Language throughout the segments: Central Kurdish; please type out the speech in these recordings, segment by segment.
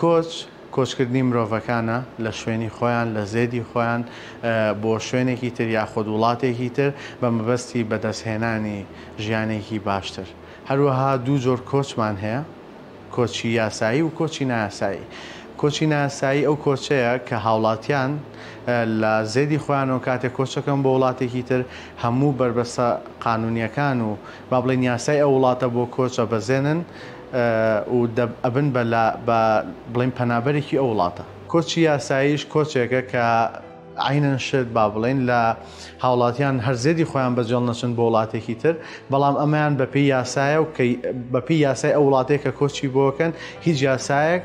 کۆچ، کۆچکردنی مرۆڤەکانە لە شوێنی خۆیان، لە زێدی خۆیان بۆ شوێنێکی تر یاخود وڵاتێکی تر بە مەبەستی بەدەستهێنانی ژیانێکی باشتر. هەروەها دوو جۆر کۆچمان هەیە، کۆچی یاسایی و کۆچی نایاسایی. کۆچی نایاسایی ئەو کۆچەیە کە هاوڵاتیان لە زێدی خۆیانەوە کاتێک کۆچ ئەکەن بۆ وڵاتێکی تر هەموو بەربەستە قانونییەکان و با بڵێین یاسای ئەو وڵاتە بۆ کۆچ ئەبەزێنن و ئەبن بە لا با بڵێین پەنابەرێکی ئەو وڵاتە. کۆچی یاساییش کۆچێکە کە عەینەن شت با بڵێین لە هاوڵاتیان هەر زێدی خۆیان بەجێڵ نەچن بۆ وڵاتێکی تر، بەڵام ئەمەیان بە پێی یاسایە و کە بە پێی یاسای ئەو وڵاتەی کە کۆچی بۆ ئەکەن هیچ یاسایەک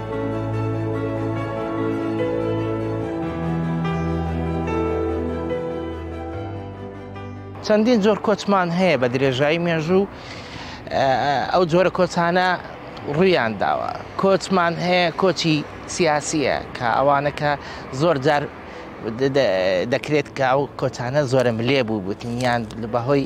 چەندین جۆر کۆچمان هەیە بە درێژایی مێژوو ئەو جۆرە کۆچانە ڕویان داوە کۆچمان هەیە کۆچی سیاسیە کە ئەوانەکە زۆر جار دەکرێت کە ئەو کۆچانە زۆرە ملێ بوو بوتنیان بەهۆی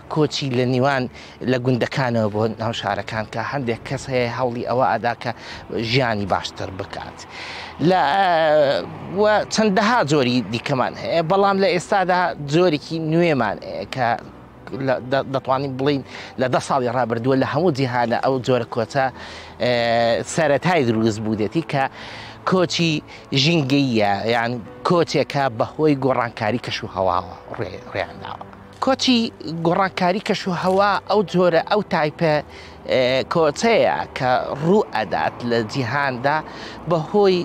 کۆچی لە نیوان لە گوندەکانەوە بۆ ناو شارەکان کە هەندێک کەس هەیە هەوڵی ئەوە ئەدا کە ژیانی باشتر بکات لە چەندەها جۆری دیکەمان هەیە بەڵام لە ئێستادا جۆرێکی نوێمان کە دەتوانین بڵین لە دە ساڵی ڕابردووە لە هەموو جیهانە ئەو جۆرە کۆچە سەتای دروست بوودێتی کە کۆچی ژینگەیە یان کۆچێکە بەهۆی گۆڕانکاری کەش و هەواوە ڕێیانداوە. کۆچی گۆڕانکاری کەش و هەوا ئەو جۆرە ئەو تایپە کۆچەیە کە ڕوو ئەدات لە جیهاندا بەهۆی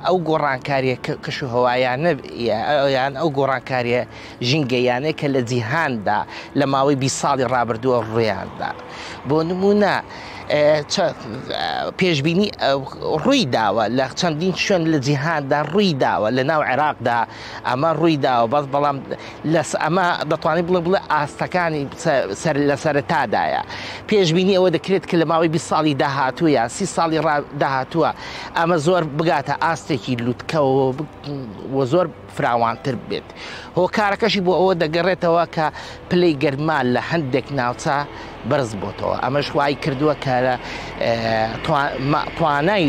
ئەو گۆڕانکاریە کەش و هەوایانە یان ئەو گۆڕانکاریە ژینگەیانەیە کە لە جیهاندا لە ماوەی بی ساڵی ڕابردووە ڕوویاندا بۆ نمونە پێشببینی ڕووی داوە لە چەندین شوێن لە جیهاندا ڕووی داوە لە ناو عێراقدا ئەمە ڕووی داوە بەس بەڵام لەس ئەمە دەتوانانی بڵێ بڵێ ئاستەکانی سەر لە سەرتادایە پێشببینی ئەوە دەکرێت کە لە ماوەی 20 ساڵی داهاتوو یان سی ساڵی داهاتووە ئەمە زۆر بگاتە ئاستێکی لوتکەوە و زۆر فراوانتر بێت هۆکارەکەشی بۆ ئەوە دەگەڕێتەوە کە پلەی گەرما لە هەندێک ناوچە بەرز بۆتەوە ئەمەش وای کردووە کە توانای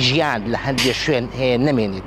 ژیان لە هەندێک شوێن هەیە نمێنیت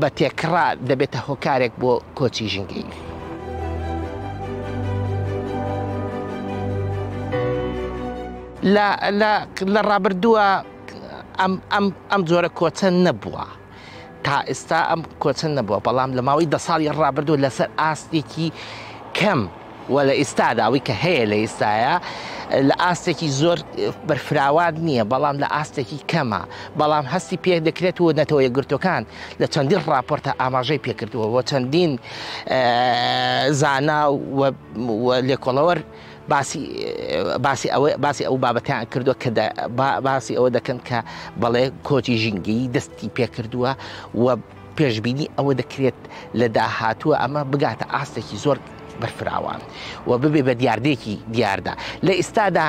بە تێکڕا دەبێتە هۆکارێک بۆ کۆچی ژینگەیی. لە ڕابردووە ئەم جۆرە کۆچە نەبووە تا ئێستا ئەم کۆچە نەبووە بەڵام لە ماوەی دە ساڵی ڕابردوو لەسەر ئاستێکی کەم و لە ئیستادا ئەوەی کە هەیە لە ئیستایا لە ئاستێکی زۆر بەرفراوان نییە بەڵام لە ئاستێکی کەمە بەڵام هەستی پێ دەکرێت و نەتەوە یەکگرتوەکان لە چەندین ڕاپۆرتە ئاماژەی پێکردووە و چەندین زانا و لێکۆڵەوەر باسی باسی ئەوە باسی ئەو بابەتیان کردووە کە باسی ئەوە دەکەن کە بەڵێ کۆچی ژینگەی دەستی پێکردووە و پێشبینی ئەوە دەکرێت لە داهاتووە ئەمە بگاتە ئاستێکی زۆر بەرفراوان و ببێ بە دیاردێکی دیاردە لە ئیستادا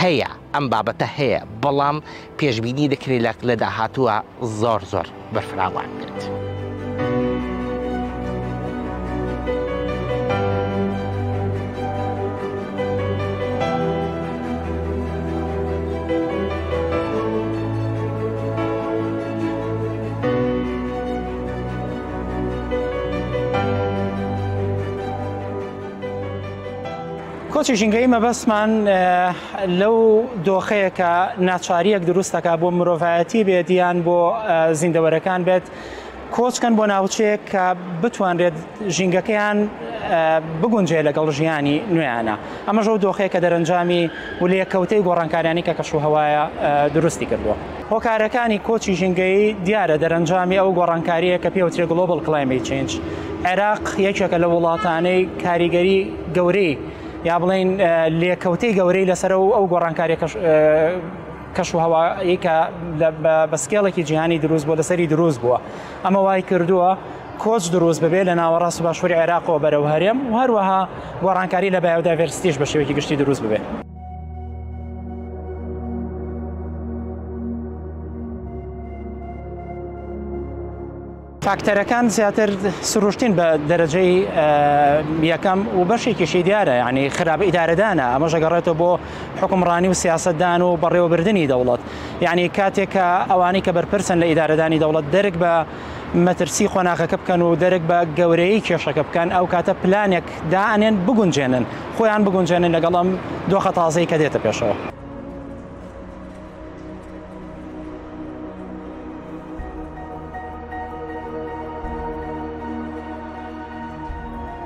هەیە ئەم بابەتە هەیە بەڵام پێشببینی دەکرێت لە لە داهاتووە زۆر زۆر بەرفراوان بێت. کۆچی ژینگەی مەبەستمان لەو دۆخەیە کە ناچاریەک دروستەکە بۆ مرۆڤایەتی بێت یان بۆ زیندەوەرەکان بێت کۆچکەن بۆ ناوچەیەک کە بتوانرێت ژینگەکەیان بگونجێ لەگەڵ ژیانی نوێیانە ئەمەش ئەو دۆخەیە کە دەرەنجامی و لێکەوتەی گۆڕانکاریانی کە کەشوهەوایە دروستی کردووە. هۆکارەکانی کۆچی ژینگەیی دیارە دەرەنجامی ئەو گۆڕانکارییە کە پێوترێ Global Climate Change. عێراق یەکێکە لە وڵاتانەی کاریگەری گەورەی یا بڵێین لێکەوتەی گەورەی لەسەرە و ئەو گۆڕانکاریە کەشوهەوایی کە بە سکێڵێکی جیهانی دروست بووە لەسەری دروست بووە ئەمە وای کردووە کۆچ دروست ببێت لە ناوەڕاست و باشووری عێراقەوە بەرەو هەرێم و هەروەها گۆڕانکاری لە بایۆدایڤەرسیتیش بە شێوەیەکی گشتی دروست ببێت. فاکتەرەکان زیاتر سروشتین بە دەرەجەی یەکەم و بەشێکیشی دیارە ینی خراپ ئیدارەدانە ئەمە ژەگەڕێتەوە بۆ حکومڕانی و سیاستدان و بەڕێوەبردننی دەوڵەت یعنی کاتێکە ئەوانەی کە بەرپرسن لە ئیدارەدانی دەوڵەت دەرک بە مەترسی قۆناغەکە بکەن و دەرک بە گەورەیی کێشەکە بکەن ئەو کاتە پلانێک دائەنێن بگونجێنن خۆیان بگونجێنن لەگەڵ ئەم دۆخە تازەی کە دێتە پێشەوە.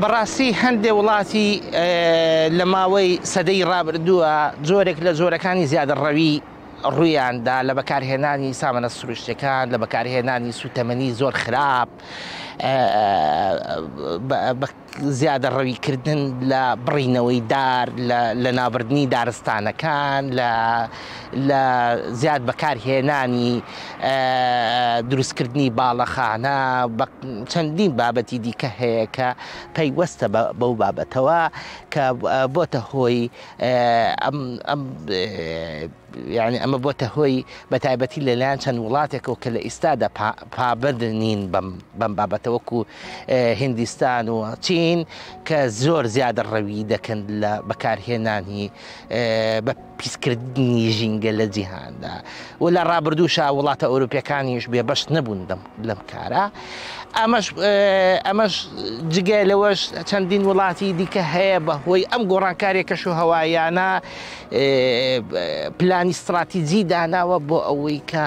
بەڕاستی هەندێ وڵاتی لە ماوەی سەدەی ڕابردووە جۆرێک لە جۆرەکانی زیادەڕەوی ڕوویاندا لە بەکارهێنانی سامانە سروشتەکان لە بەکارهێنانی سوتەمەنی زۆر خراپ زیادە ڕەویکردن لە بڕینەوەی دار لە لەنابردنی دارستانەکان لە لە زیاد بەکار هێنانی دروستکردنی باڵەخانە بە چەندین بابەتی دیکە هەیە کە پەیوەستە بەو بابەتەوە کە بۆتە هۆی یعنی ئەمە بۆتە هۆی بە تایبەتی لەلایەن چەند وڵاتێکەوە کە لە ئیستادا پابند نین بەم بابەتەوەکو هندستان و چین کە زۆر زیادە ڕەوی دەکەن لە بەکارهێنانی بە پیسکردنی ژینگە لە جیهاندا و لە ڕابردووشا وڵاتە ئەوروپیەکانیش بێبەش نەبوون لەم کارە ئەمەش ئەمەش جگە لەوەش چەندین وڵاتی دیکە هەیە بە هۆی ئەم گۆڕانکارێک کەش و هەوایانە پلانی استراتیجی داناوە بۆ ئەوەی کە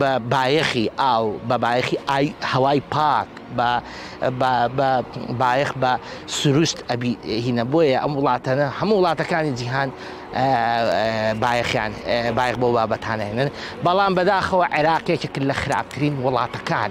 بە بایەخی ئاو، بە بایەخی هەوای پاک، بایەخ بە سروشت ئەبی هینە بۆیە ئەم وڵاتەنە هەموو وڵاتەکانی جیهان بایەخیان بایەخ بۆ بابەتانێنن بەڵام بەداخەوە عێراقێکێک لە خراپترین وڵاتەکان.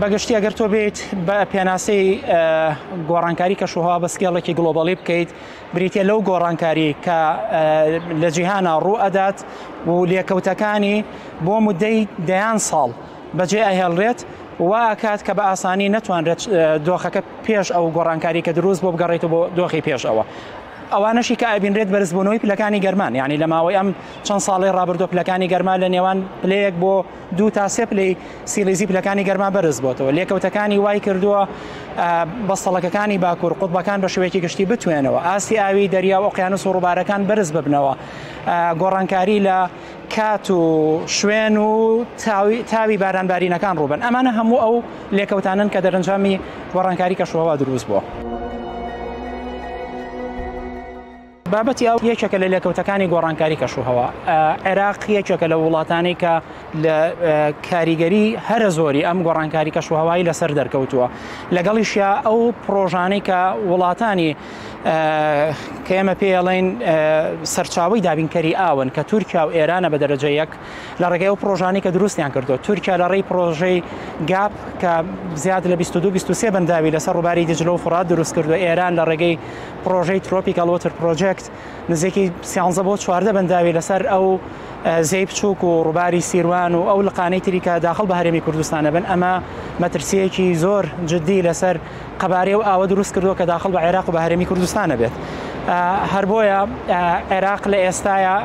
بەگشتی ئەگەر تۆ بێت بە پێناسەی گۆڕانکاری کەشوهوا بە سکێڵێکی گلۆبالی بکەیت بریتە لەو گۆڕانکاری کە لە جیهانا ڕوو ئەدات و لێکەوتەکانی بۆ مدەی دەیان ساڵ بەجێ ئەهێڵرێت و ئاکات کە بە ئاسانی نەتوانرێت دۆخەکە پێش ئەو گۆڕانکاری کە دروست بۆ بگەڕێت و بۆ دۆخی پێش ئەوە ئەوانەشی کە ئابینرێت بەرزبوونەوەی پلەکانی گەرمان یعنی لە ماوەی ئەم چەند ساڵی ڕابردۆ پلەکانی گەرما لە نێوان پلەیەک بۆ دوو تا سێ پلەی سیلیزی پلەکانی گەرما بەرز بۆتەوە لێکەوتەکانی وای کردووە بەستەڵەکەکانی باکوور قوتبەکان بە شوەیەکی گشتی بتوێنەوە ئاستی ئاوی دەریا و ئۆقیانوس و ڕووبارەکان بەرز ببنەوە گۆڕانکاری لە کات و شوێن و تاوی بارانبارینەکان ڕووبن ئەمانە هەموو ئەو لێکەوتانن کە دەرەنجامی گۆڕانکاری کەشوەوا دروست بووە. بابەتی ئاو یەکێکە لە لێکەوتەکانی گۆڕانکاری کەشوهەوا. عێراق یەکێکە لە وڵاتانەی کە لە کاریگەری هەرە زۆری ئەم گۆڕانکاری کەشوهەوایی لەسەر دەرکەوتووە لەگەڵیشیا ئەو پرۆژانەی کە وڵاتانی کە ئێمە پێڵین سەرچاوی دابینکەری ئاون کە تورکیا و ئێرانە بە دەرەجە یەک لە ڕێگەی و پرۆژانی کە دروستیان کردو تورکیا لە ڕێی پرۆژەی گاپ کە زیاد لە 22 بەنداوی لەسەر ڕووباری دجلە و فرات دروست کردو ئێران لە ڕێگەی پڕۆژەی ترۆپیکەڵ وۆتر پرۆجێکت نزیکی سیانزە بۆ چواردە بەنداوی لەسەر ئەو زێی بچووک و ڕووباری سیروان و ئەو لقانەی تریکە داخل بە هەرێمی کوردستانە بن ئەمە مەترسیەکی زۆر جددی لەسەر قەبارەی و ئاوە دروست کردووە کە داخل بە عێراق و بە هەرێمی کوردستانە بێت هەر بۆیە عێراق لە ئێستاە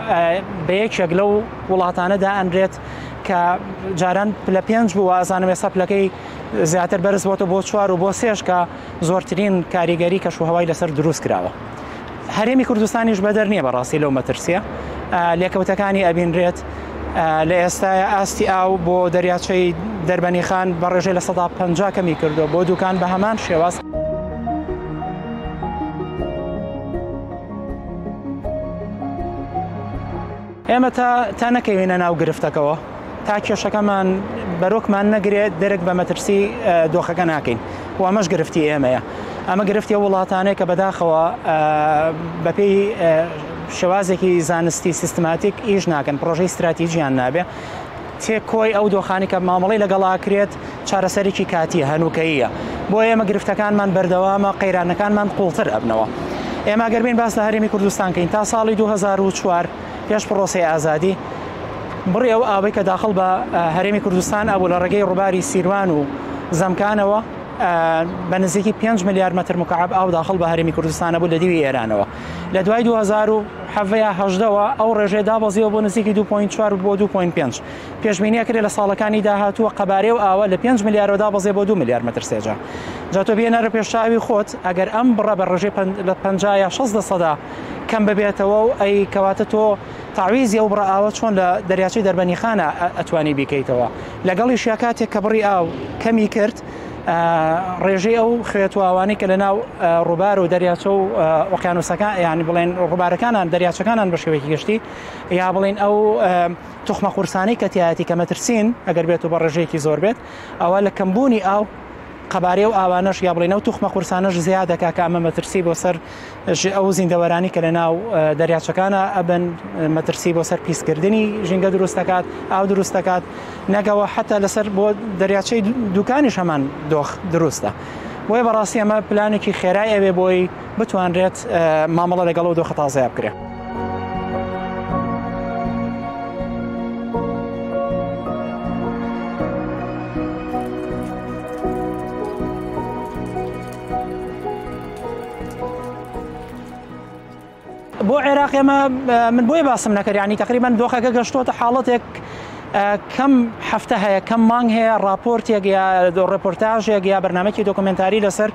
بە یەکێک لەو وڵاتانەدا ئەنرێت کە جاران لە پێنج بوو ئازانم ێستا پلەکەی زیاتر بەرز بۆتە بۆ چوار و بۆ سێشکە زۆرترین کاریگەری کەش و هەوای لەسەر دروست کراوە هەرێمی کوردستانیش بەدەر نییە بەڕاستی لەو مەترسیە لێکەوتەکانی ئەبینرێت لە ئێستاە ئاستی ئاو بۆ دەریاچەی دەربەنی خان بە ڕێژەی لە سەدا پ کەمی کردو بۆ دوکان بە هەمان شێواز. ئێمە تا تا نەکەوینە ناو گرفتەکەوە تا کێشەکەمان بەرۆکمان نەگرێت دەرک بە مەترسی دۆخەکە ناکەین و ئەمەش گرفتی ئێمەیە ئەمە گرفتی وڵاتانەیە کە بەداخەوە بەپێی شێوازێکی زانستی سیستماتیک ئیش ناکەن پرۆژەی استراتیژیان نابێ چێ کۆی ئەو دۆخانەی کە مامەڵەی لەگەڵا کرێت چارەسەرێکی کاتییە، هەنووکەییە، بۆ ئێمە گرفتەکانمان بەردەوامە، قەیرانەکانمان قووڵتر ئەبنەوە. ئێمە ئەگەر بێین باس لە هەرێمی کوردستان کەین تا ساڵی دوو هەزار و چوار پێش پڕۆسەی ئازادی بڕی ئەو ئاوەی کە داخڵ بە هەرێمی کوردستان ئەبوو لە ڕێگەی ڕووباری سیروان و زەمکانەوە بە نزیکی پێنج ملیار مەتر مکعەب ئاو داخڵ بە هەرێمی کوردستان ئەبوو لە دیوی ئێرانەوە. لە دوای دوو هەزار و حەڤە یا هەژدەوە ئەو ڕێژەیە دابەزیوە بۆ نزیکی دوو پۆینت چوار بۆ دوو پۆینت پێنج. پێشبینییە کرێ لە ساڵەکانی داهاتووە قەبارەی و ئاوە لە پێنج ملیارەوە دابەزێ بۆ دوو ملیار مەتر سێجا. جا تۆ بێنەرە پێش چاوی خۆت ئەگەر ئەم بڕە بە ڕێژەی پەن لە پەنجا یا شەست لەسەدا کەم ببێتەوە و ئەی کەواتە تۆ تەعویزی ئەو بڕە ئاوە چۆن لە دەریاچەی دەربەنیخانە ئەتوانی بیکەیتەوە؟ لەگەڵیشیا کاتێک کە بڕی ئاو کەمی کرد ڕێژەی ئەو خوێتواوانی کە لە ناو ڕووبار و دەریاچە و ئۆقیانوسەکان یانی بڵێن ڕووبارەکانان دەریاچەکانان بە شێوەیەکی گشتی یا بڵین ئەو تخمە قورسانی کەتیایەتی کە مەترسین ئەگەر بێت و بە ڕێژەیەکی زۆر بێت ئەوە لە کەمبوونی ئاو قەبارەیە و ئاوانەش یا بڵێنەوە توخمە قورسانەش زیادەکە کە ئەمە مەترسی بۆ سەر ژی ئەو زیندەوەرانی کە لە ناو دەریاچەکانە ئەبن مەترسی بۆ سەر پیسکردنی ژینگە دروست دەکات ئاو دروست دەکات نەگەوە حتا لەسەر بۆ دەریاچەی دوکانیش هەمان دۆخ دروستە بۆیە بەڕاستی ئەمە پلانێکی خێرای ئەوێ بۆی بتوانرێت مامەڵە لەگەڵ و دۆخە تازەیە بکرێت. بۆ عێراق ئێمە من بۆی باسم نەکرد ینی تقریبان دۆخەکە گەشتۆتە حاڵەتێک کەم هەفتە هەیە کەم مانگ هەیە راپۆرتێک یا ڕپۆرتاژێک یا بەرنمەکی دۆکمنتاری لەسەر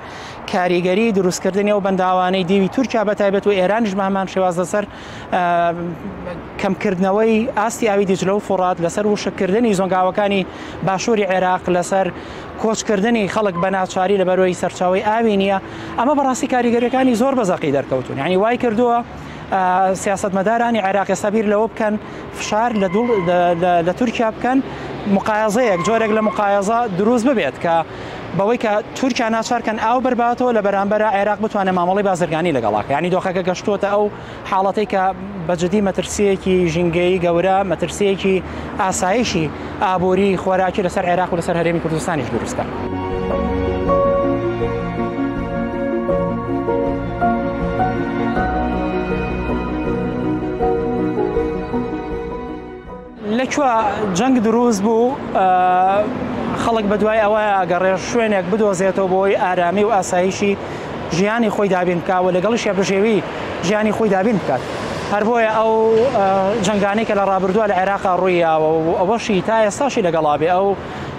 کاریگەری دروستکردنی و بەنداوانەی دیوی تورکیا بە تایبەت و ئێرانش بەمان شێواز لەسەر کەمکردنەوەی ئاستی ئاوی دیجلە و فڕات لەسەر وشککردنی زۆنگاوەکانی باشووری عێراق لەسەر کۆچکردنی خەڵک بە ناچاری لە بەرۆی سەرچاوی ئاوی نییە ئەمە بەڕاستی کاریگەریەکانی زۆر بەزەقی دەرکەوتون ینی وای کردووە سیاستمەدارانی عێراقی سەبیر لەوە بکەن فشار لە دوڵ لە تورکیا بکەن مقایزەیەک جۆرێک لە مقایزە دروست ببێت کە بەوەی کە تورکیا ناچارکەن ئاو بەرباتەوە لە بەرامبەرە عێراق بتوانێت مامەڵی بازرگانی لەگەڵاکە ینی دۆخەکە گەشتووەتە ئەو حاڵەتی کە بەجددی مەترسیەکی ژینگەی گەورە مەترسیەکی ئاسایشی ئابووری خۆراکی لەسەر عێراق و لەسەر هەرێمی کوردستانیش دروستە. لە کوێ جەنگ دروست بوو خەڵک بە دوای ئەوە ئەگەڕێ شوێنێک بدۆزێتەوە بۆی ئارامی و ئاسایشی ژیانی خۆی دابین بکە و لەگەڵی شێبژێوی ژیانی خۆی دابین بکات هەر بۆیە ئەو جنگانی کە لە ڕابردووە لە عێراقا ڕوویاوە و ئەوەشی تا ئێستاشی لەگەڵابێ ئەو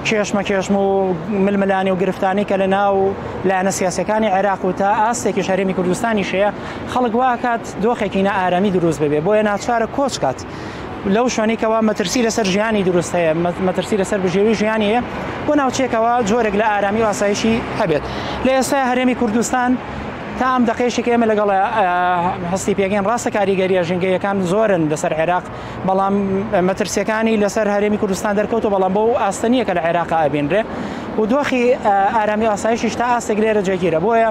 کێشمە کێشم و ململانی و گرفتانی کە لە ناو لایەنە سیاسەکانی عێراق و تا ئاستێکی شەرمی کوردستانی شەیە خەڵک واکات دۆخێکی نە ئارامی دروست ببێ بۆیە ناچارە کۆچکات لەو شوێنێکەوە مەترسی لەسەر ژیانی دروست هەیە مەترسی لەسەر بژێوی ژیانی هەیە بۆ ناوچێکەوە جۆرێک لە ئارامی و ئاسایشی هەبێت لە ئێستا هەرێمی کوردستان تا ئەم دەقێشێک ئێمە لەگەڵ هەستی پێگەین ڕاستە کاریگەریە ژنگەیەکان زۆرن لەسەر عێراق بەڵام مەترسیەکانی لەسەر هەرێمی کوردستان دەرکەوتە بەڵام بۆ ئاستەنیەکە لە عێراق ئابینرێ و دۆخی ئارامی ئاسایشیش تا ئاستێک لێرە جێگیرە بۆیە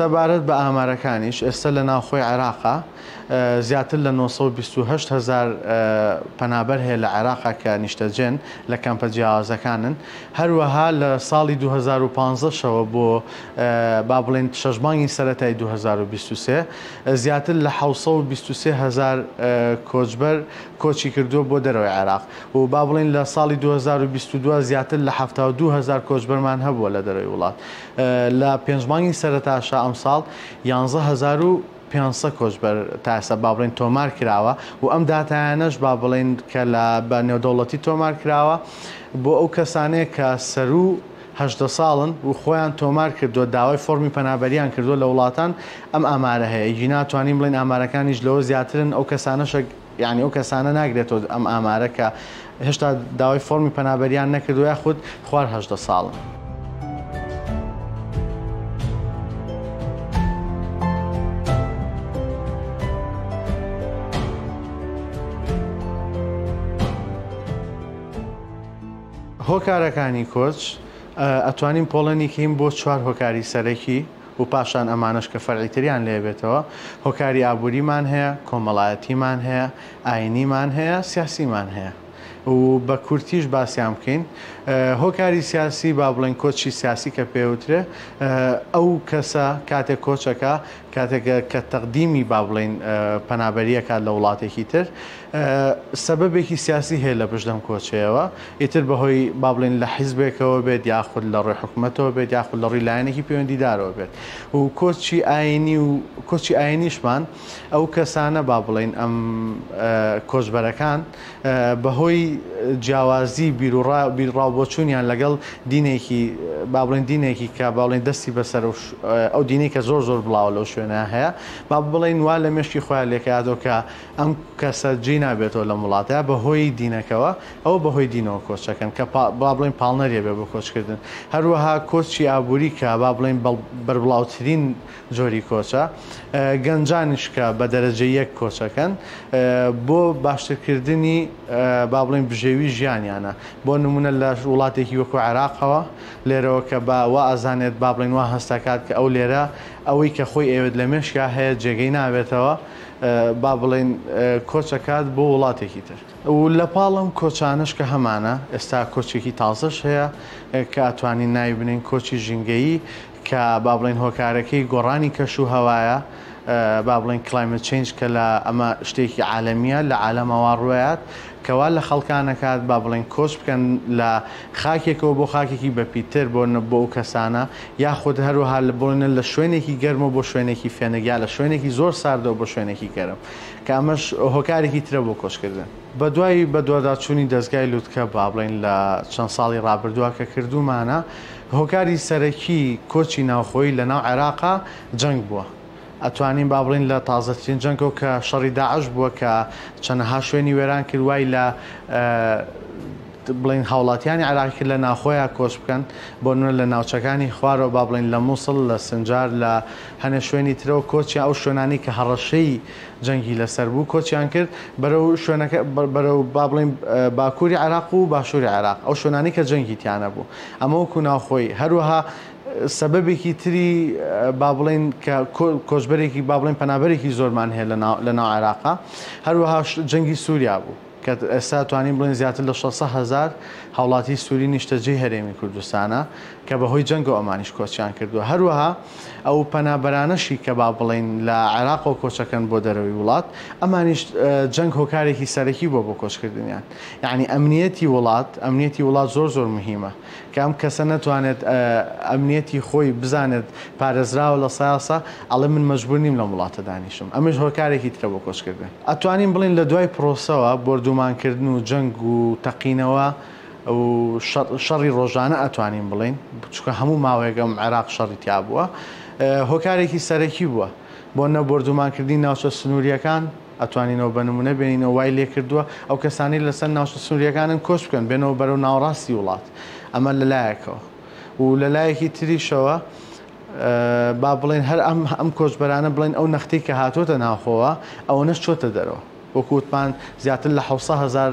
سەبارەت بە ئامارەکانیش ئێستا لە ناوخۆی عێراقا زیاتر لە 928 هزار پەنابەر هەیە لە عێراقا کە نیشتەجێن لە کەمپە جیاوازەکانن هەروەها لە ساڵی 2015ەوە بۆ با بڵێن شەشبانگی سەتای 2023 زیاتر لە 1920 هزار کۆچبەر کۆچی کردووە بۆ دەرەوەی عێراق و با بڵێین لە ساڵی دوو هەزار و بیست و دوو زیاتر لە حەفتا و دوو هەزار کۆچبەرمان هەبووە لە دەرەوەی وڵات لە پێنج مانگی سەرتاشا ئەمساڵ یانزە هەزار و پێنج سەد کۆچبەر تا ئێستا با بڵێین تۆمار کراوە و ئەم داتایانەش با بڵێین کە لە بە نێودەوڵەتی تۆمار کراوە بۆ ئەو کەسانەیە کە سەروو هەژدە ساڵن و خۆیان تۆمار کردووە داوای فۆرمی پەنابەریان کردووە لە وڵاتان ئەم ئامارە هەیە ئیدی ناتوانین بڵێین ئامارەکانیش لەوە زیاترن ئەو کەسانەشە یانی ئەو کەسانە ناگرێتەوە ئەم ئامارە کە هێشتا داوای فۆرمی پەنابەریان نەکردو یاخود خوار هەژدە ساڵن. هۆکارەکانی کۆچ ئەتوانین پۆڵێنی کەین بۆ چوار هۆکاری سەرەکی. و پاشان ئەمانەش کە فەرعی تریان لێ بێتەوە، هۆکاری ئابووریمان هەیە، کۆمەڵایەتیمان هەیە، ئاینیمان هەیە، سیاسیمان هەیە و بە کورتیش باسیان بکەین. هۆکاری سیاسی، با بڵێین کۆچی سیاسی کە پێ وترێ، ئەو کەسە کاتێک کۆچ ئەکا، کاتێک کە تەقدیمی با بڵێین پەنابەری ئەکات لە وڵاتێکی تر، سەبەبێکی سیاسی هەیە لە پشت ئەم کۆچەیەوە، ئیتر بەهۆی با بڵێین لە حیزبێکەوە بێت یاخود لە ڕووی حکومەتەوە بێت یاخود لە ڕووی لایەنێکی پەیوەندیدارەوە بێت و کۆچی ئاینی و کۆچی ئاینیشمان ئەو کەسانە با بڵێین ئەم کۆچبەرەکان بەهۆی جیاوازی بیرڕا بیرڕاوبۆچوونیان لەگەڵ دینێکی با بڵێن دینێکی کە با بڵێن دەستی بەسەر ئەو دینێکە زۆر زۆر بڵاوە لەو شوێنە هەیە با بڵێن وا لە مێشکی خۆیان لێکاتەوە کە ئەم کەسە جێی نابێتەوە لەم وڵاتە بە هۆی دینەکەوە، ئەوە بە هۆی دینەوە کۆچەکەن کە با بڵێین پاڵنەریە بێ بۆ کۆچکردن. هەروەها کۆچی ئابووری کە با بڵێین بەربڵاوترین جۆری کۆچە. گەنجانیش کە بە دەرەجە یەک کۆچەکەن بۆ باشترکردنی با بڵێین بژێوی ژیانیانە. بۆ نموونە لە وڵاتێکی وەکو عێراقەوە لێرەوە کە با وا ئەزانێت با بڵێین وا هەست ئەکات کە ئەو لێرە ئەوەی کە خۆی ئەیەوێت لە مێشکا هەیە جێگەی نابێتەوە با بڵێین کۆچەکات بۆ وڵاتێکی تر و لەپاڵ ئەم کۆچانەش کە هەمانە ئێستا کۆچێکی تازەش هەیە کە ئەتوانین ناوی بنێین کۆچی ژینگەیی کە با بڵێین هۆکارەکەی گۆڕانی کەش و هەوایە با بڵێن کلایمت چنج کە لە ئەمە شتێکی عالەمیە لە عالەمەوە ڕوایات کەوا لە خەڵکانەکات با بڵێن کۆچ بکەن لە خاکێکەوە بۆ خاکێکی بەپیتتر بۆ بۆ ئەو کەسانە یاخود هەروەها بڕۆنە لە شوێنێکی گەرمەوە بۆ شوێنێکی فێنک یا لە شوێنێکی زۆر ساردەوە بۆ شوێنێکی گەرم کە ئەمەش هۆکارێکی ترە بۆ کۆچکردن. بەدوای بەدواداچوونی دەزگای لوتکە با بڵێین لە چەند ساڵی ڕابردووە کە کردوومانە، هۆکاری سەرەکی کۆچی ناوخۆیی لەناو عێراقا جەنگ بووە. ئەتوانین بابڵێین لە تازەترین جەنگەو کە شەڕی داعش بووە کە چەنەها شوێنی وێران کرد وای لە بڵێین هاوڵاتیانی عێراقی کرد لە ناخۆیان کۆچ بکەن بۆ نمونە لە ناوچەکانی خوارەوە با بڵێین لە موسڵ لە سنجار لە هەنێ شوێنی ترەوە کۆچیان ئەو شوێنانەی کە هەڕەشەی جەنگی لەسەر بوو کۆچیان کرد بەرەو شوێنەکە بەرەو با بڵێین باکووری عێراق و باشووری عێراق ئەو شوێنانەی کە جەنگی تیانەبوو ئەمە وەکو ناوخۆی هەروەها سەبەبێکی تری با بڵێین کە کۆچبەرێکی با بڵێین پەنابەرێکی زۆرمان هەیە لە ناو عێراقا هەروەها جەنگی سووریا بوو کە ئێستا توانین بڵێن زیاتر لە شەست سەد هەزار هاوڵاتی سووری نیشتەجێی هەرێمی کوردستانە کە بەهۆی جەنگەوە ئەمانیش کۆچیان کردووە هەروەها ئەو پەنابەرانەشی کە با بڵێین لە عێراقەوە کۆچەکەن بۆ دەرەوەی وڵات ئەمانیش جەنگ هۆکارێکی سەرەکی بووە بۆ کۆچکردنیان یەعنی ئەمنیەتی وڵات ئەمنیەتی وڵات زۆر زۆر مهمە کە ئەم کەسە نەتوانێت ئەمنیەتی خۆی بزانێت پارێزراوە لە سایەسە ئەڵێ من مەجبور نیم لەم وڵاتە دانیشم ئەمەش هۆکارێکی ترە بۆ کۆچکردن ئەتوانین بڵێن لە دوای پرۆسەوە بۆردومانکردن و جەنگ و تەقینەوە و شەڕی ڕۆژانە ئەتوانین بڵێن چکە هەموو ماوەیەک ئەم عێراق شەڕی تیابووە هۆکارێکی سەرەکی بووە بۆ نە بۆردومانکردنی ناوچە سنووریەکان ئەتوانینەوە بە نموونە بێنینەوە وای لێکردووە ئەو کەسانەی لەسەر ناوچە سنوورییەکانن کۆچ بکەن بێنەوە بەرەو ناوەڕاستی وڵات ئەمە لە لایەکەوە و لە لایەکی تریشەوە با بڵێن هەر ئەم ئەم کۆچبەرانە بڵێن ئەو نەختی کە هاتووەتە ناوخۆوە ئەوەنەش چۆتە دەرەوە وەکووتمان زیاتر لە حوسە هزار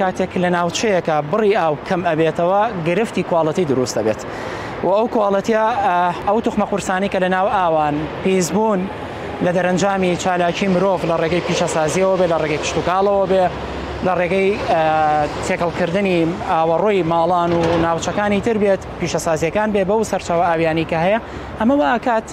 کاتێک لە ناوچەیەکە بڕی ئاو کەم ئەبێتەوە گرفتی کوواڵەتی دروست دەبێت و ئەو کوواڵەتە ئەو توخمە قورسانی کە لە ناو ئاوان پیسبوون لە دەرەنجامی چالاکی مرۆڤ لە ڕێگەی پیشەسازیەوە بێ لە ڕێگەی کشتتوکاڵەوە بێ لە ڕێگەی تێکەڵکردنی ئاوەڕۆی ماڵان و ناوچەکانی تر بێت پیشەسازییەکان بێ بەو سەرچاوە ئاویانی کە هەیە ئەمە وا ئەکات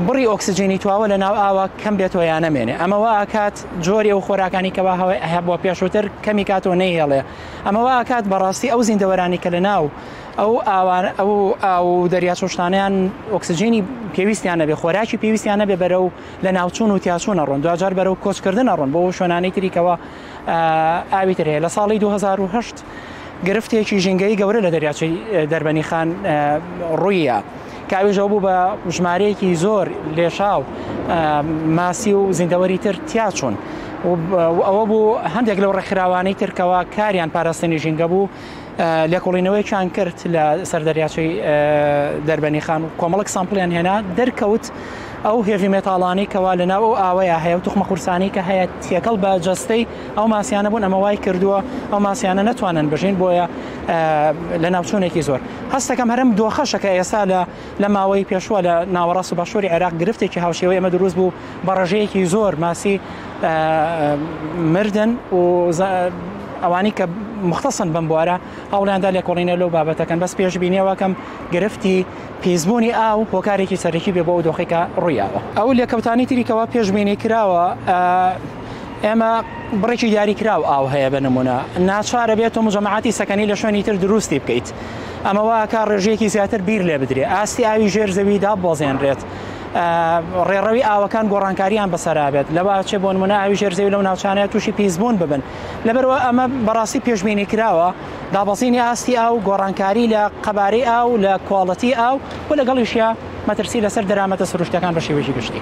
بڕی ئۆکسجینی تواوە لە ناو ئاوا کەم بێتەوە یان نەمێنێ ئەمە وا ئەکات جۆری ئەو خۆراکانی کەوا هەبووە پێشووتر کەمی کاتەوە نەیهێڵێ ئەمە وا ئەکات بەڕاستی ئەو زیندەوەرانی کە لە ناو ئەو ئاوان ئەو ئاو و دەریاچۆشتانیان ئۆکسجینی پێویستیان نەبێ خۆراکی پێویستیان نەبێ بەرەو لە ناوچوون و تیاچوونە ڕۆن دوجار بەرەو کۆچکردنە ڕۆن بۆ شوێنانی تریکەوە ئاوی ترەیە لە ساڵی 2010 گرفتێکی ژینگەی گەورە لە دەریاچەی دەربەنیخان ڕوویە کە ئەوێژەوە بوو بە ژمارەیەکی زۆر لێشاو ماسی و زیندەوەری تر تیاچوون ئەوە بوو هەندێک لەو ڕێکخراوانەی ترکەوە کاریان پاراستنی ژینگە بوو لێکۆڵینەوەیان کرد لە سەر دەریاچەی دەربەنی خان و کۆمەڵک سامپلیان هێنا دەرکەوت ئەو هێڤی مێتاڵانی کەوا لە ناو ئەو ئاوەیە هەیە و توخمە قورسانی کە هەیە تێکەڵ بە جەستەی ئەو ماسیانە بوون ئەمە وای کردووە ئەو ماسیانە نەتوانن بژین بۆیە لە ناوچونێکی زۆر هەستەکەم هەرم دۆخەشەکە ئێستا لە لە ماوەی پێشوە لە ناوەڕاست و باشووری عێراق گرفتێکی هاوشێوەی ئەمە دروست بوو بە ڕژەیەکی زۆر ماسی مردن و ئەوانی کە مختصن بم بوارە هەوڵیاندا لێکۆڵینە لەو بابەتەکەن بەس پێشببینیەوەکەم گرفتی پیسبوونی ئاو هۆکارێکی سەرەکی بێ بۆ ئەو دۆخێکە ڕوویاوە ئەو لێکەوتانی تریکەوە پێشببینی کراوە ئێمە بڕێکی دیاریکراو ئاو هەیە بە نمونە ناچارە بێت و مجەماعاتی سەکەنی لە شوێنی تر دروستی بکەیت ئەمە واکە ڕێژەیەکی زیاتر بیر لێ بدرێ ئاستی ئاوی ژێر زەوی داببەزێنرێت ڕێڕەوی ئاوەکان گۆڕانکاریان بەسەرابێت لەوە چێ بۆن منە ئاوی ژێر زەوی لەو ناوچانەیە تووشی پیسبوون ببن لەبەرەوە ئەمە بەڕاستی پێشببینی کراوە دابەزینی ئاستی ئاو گۆڕانکاری لە قەبارەی ئاو لە کوواڵەتی ئاو و لەگەڵیشە مەترسی لەسەر دەرامەتە سروشتەکان بە شێوەی گشتی.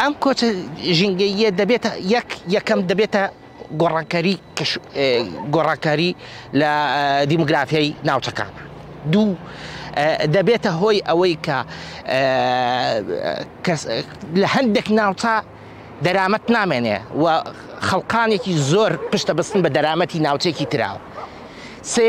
ئەم کۆچە ژینگەییە دەبێتە یەک یەکەم دەبێتە گۆڕانکاری گۆڕانکاری لە دیموگرافیای ناوچەکان دوو دەبێتە هۆی ئەوەی کە لە هەندێک ناوچە دەرامەت نامێنێ و خەڵقانێکی زۆر پشتە بەستن بە دەرامەتی ناوچێکی تراوە سێ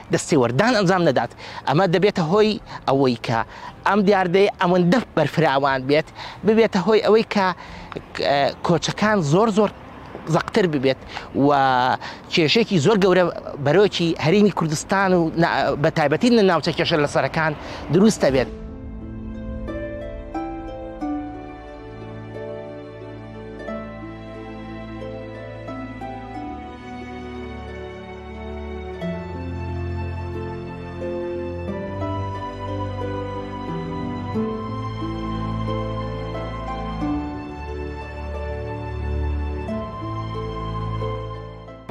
دەستێوەردان ئەنجام نەدات، ئەمە دەبێتە هۆی ئەوەی کە ئەم دیاردەیە ئەوەندە بەرفراوان بێت، ببێتە هۆی ئەوەی کە کۆچەکان زۆر زۆر زەقتر ببێت و کێشێکی زۆر گەورە بەرۆکی هەرێمی کوردستان و بە تایبەتی لە ناوچە کێشە لە سەرەکان دروستە بێت.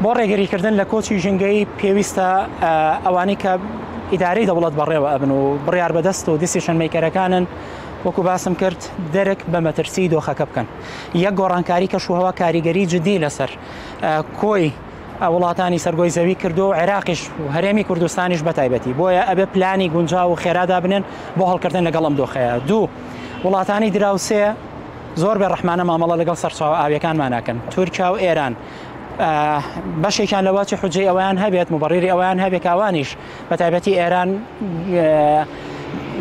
بۆ ڕێگەریکردن لە کۆچی ژنگەی پێویستە ئەوانی کە ئیدارەی دەوڵەت بەڕێوە ئەبن و بڕیار بەدەست و دیسیشن میکەرەکانن وەکو باسم کرد دەرک بە مەترسی دۆخەکە بکەن یەک گۆڕانکاری کەشوهوا کاریگەری جددی لەسەر کۆی وڵاتانی سەر گۆی زەوی کردووە و عێراقیش و هەرێمی کوردستانیش بەتایبەتی بۆیە ئەبێ پلانی گونجاو و خێرادا بنێن بۆ هەڵکردن لەگەڵ ئەم دۆخەیە دوو وڵاتانی دراوسێ زۆر بێ ڕحمانە مامەڵە لەگەڵ سەرچاو ئاویەکانمان ناکەن تورکیا و ئێران بەشێکیان لە واچی حجێ ئەویان هەبێت مبڕری ئەویان هەبێت کاوانیش بە تایبەتی ئێران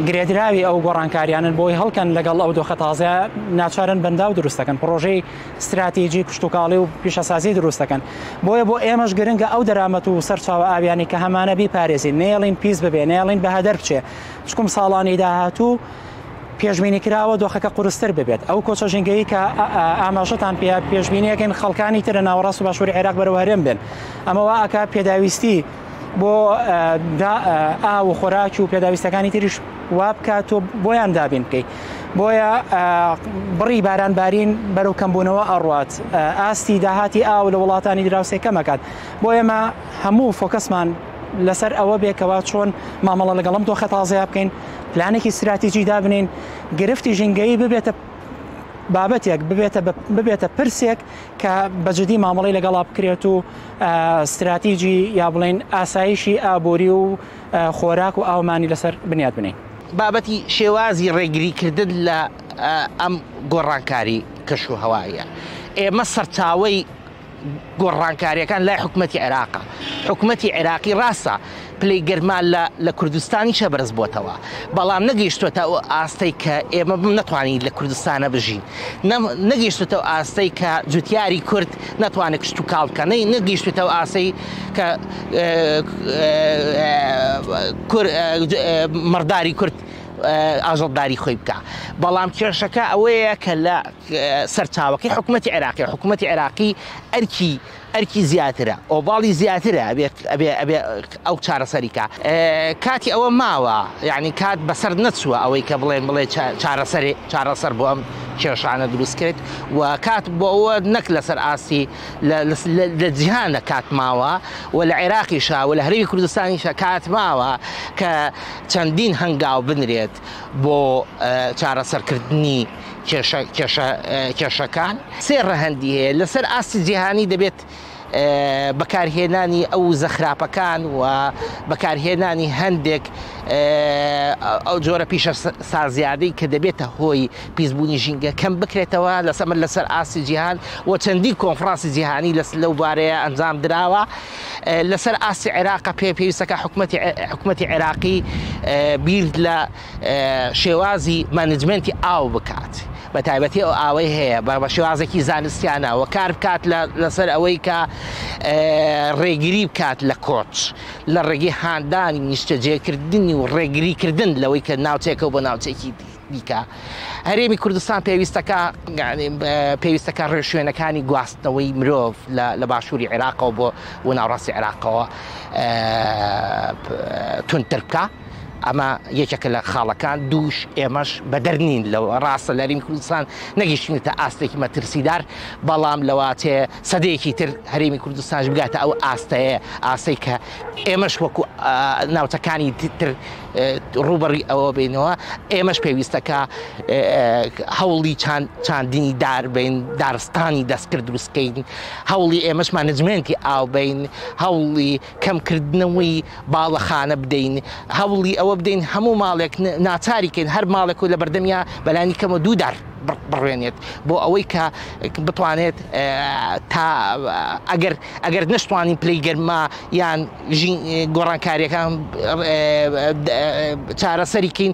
گرێدراوی ئەو گۆڕانکاریانن بۆی هەڵکەن لەگەڵ ئەو دۆخە تازە ناچارن بەنداو دروستەکەن پرۆژەی ستراتیجی کشتوکاڵی و پیشەسازی دروست دەکەن، بۆیە بۆ ئێمەش گرنگە ئەو دەرامەت و سەرچاوە ئاویانەی کە هەمانە بیپارێزین، نەیەڵین پیس ببێ، نەیەڵین بەهەدەر بچێ، چکم ساڵانی داهاتوو پێشبینیکراوە دۆخەکە قورستر ببێت، ئەو کۆچە ژینگەیی کە ئاماژەتان پێیە پێشبینیەکەین خەڵکانی ترە ناوەڕاست و باشوری عێراق بەرەو هەرێم بێن، ئەمەوە ئەکا پێداویستی بۆ ئاو و خۆراکی و پێداویستەکانی تریش وابکات و بۆیان دابین بکەیت بۆیە بڕی باران بارین بەرەو کەمبوونەوە ئەڕات ئاستی داهاتی ئاو لە وڵاتانی دراوسێ کەمەکات بۆ ئێمە هەموو فۆکەسمان لەسەر ئەوە بێکەوە چۆن مامەڵە لەگەڵم دۆخە تازەیا بکەین پلانێکی استراتیجی دابنین گرفتی ژینگەی ببێتە بابەتێک ببێتە ببێتە پرسێک کە بەجددی مامەڵی لەگەڵا بکرێت و ستراتیجی یا بڵێین ئاسایشی ئابووری و خۆراک و ئاومانی لەسەر بنیات بنێین. بابەتی شێوازی ڕێگریکردن لە ئەم گۆڕانکاری کەشوهەواییە ئێمە سەرچاوەی گۆڕانکاریەکان لای حکومەتی عێراقە، حکومەتی عێراقی ڕاستە، پلەی گەرما لە لە کوردستانیشە بەرز بۆتەوە بەڵام نەگەیشتوەتە ئەو ئاستەی کە ئێمە بم نەتوانین لە کوردستانە بژین نەگەیشتوتە ئەو ئاستەی کە جوتیاری کورد ناتوانێت کشت و کاڵ بکە نەی نەگەیشتوتە ئەو ئاسەی کە مەڕداری کورد ئاژەڵداری خۆی بکە بەڵام کێشەکە ئەوەیە کە لە سەرچاوەکەی حکوومەتتی عێراقی حکوومەتتی عێراقی ئەرکی ئەرکی زیاترە ئۆڤاڵی زیاترە ئەبێت ئەبێ ئەبێ ئەو چارەسەریکە کاتی ئەوە ماوە یعنی کات بەسەر نەچووە ئەوەی کە بڵێن بڵێ چارەسەری چارەسەر بۆ ئەم کێشانە دروست کرد و کات بۆ ئەوە نەک لەسەر ئاستی لە جیهانە کات ماوە و لە عێراقیشا و لە هەرمی کوردستانیشە کات ماوە کە چەندین هەنگاو بنرێت بۆ چارەسەرکردنی کێشەکان سێ ڕەهەندی هەیە، لەسەر ئاستی جیهانی دەبێت بەکارهێنانی ئەو وزە خراپەکان و بەکارهێنانی هەندێک ئەو جۆرە پیشە سازیادەی کە دەبێتە هۆی پیسبوونی ژینگە کەم بکرێتەوە لە سەمر لەسەر ئاستی جیهان و چەندین کۆنفراسی جیهانی لەس لەو بارەیە ئەنجام دراوە لەسەر ئاستی عێراق پێ پێویستەکە حکوومەتی حکوومەتی عێراقی بیر لە شێوازی مانجمنتی ئاو بکات بە تایبەتی ئەو ئاوەی هەیە بە بە شێوازێکی زانستیانەوە کار بکات لەسەر ئەوەی کە ڕێگری بکات لە کۆچ لە ڕێگەی هاندانی نیشتەجێکردنی و ڕێگریکردن لەوەی کە ناوچێکە بۆ ناوچێکی دی. دیکە هەرێمی کوردستان پێویستەکە پێویستەکە ڕێشوێنەکانی گواستنەوەی مرۆڤ لە باشووری عێراقەوە بۆ و ناوڕاستی عێراقەوە تونتر بکە ئەمە یەکێکە لە خاڵەکان دووش ئێمەش بەدەر نین لە ڕاستە لە رینی کوردستان نەگەیشتنێتە ئاستێکی مەترسیدار بەڵام لەواتێ سەدەیەکی تر هەرێمی کوردستانش بگاتە ئەو ئاستەیە ئاسەی کە ئێمەش وەکو ناوچەکانی تر ڕوبەڕی ئەوە بینەوە ئێمەش پێویستەکە هەوڵی چاند چاندنی دار بین دارستانی دەستکرد دروستکەین هەوڵی ئێمەشمان نجمێنتی ئاو بین هەوڵی کەمکردنەوەی باڵەخانە بدەین، هەوڵی ئەوە بدەین هەموو ماڵێک ناچاری کەین هەر ماڵێک و لەبەردەمیا بەلانی کەمە دوو دار بڕوێنێت بۆ ئەوەی کە بتوانێت تا ئەگەر ئەگەر نەشتوانین پلەی گەرما یان گۆڕانکاریەکان چارەسەری کەین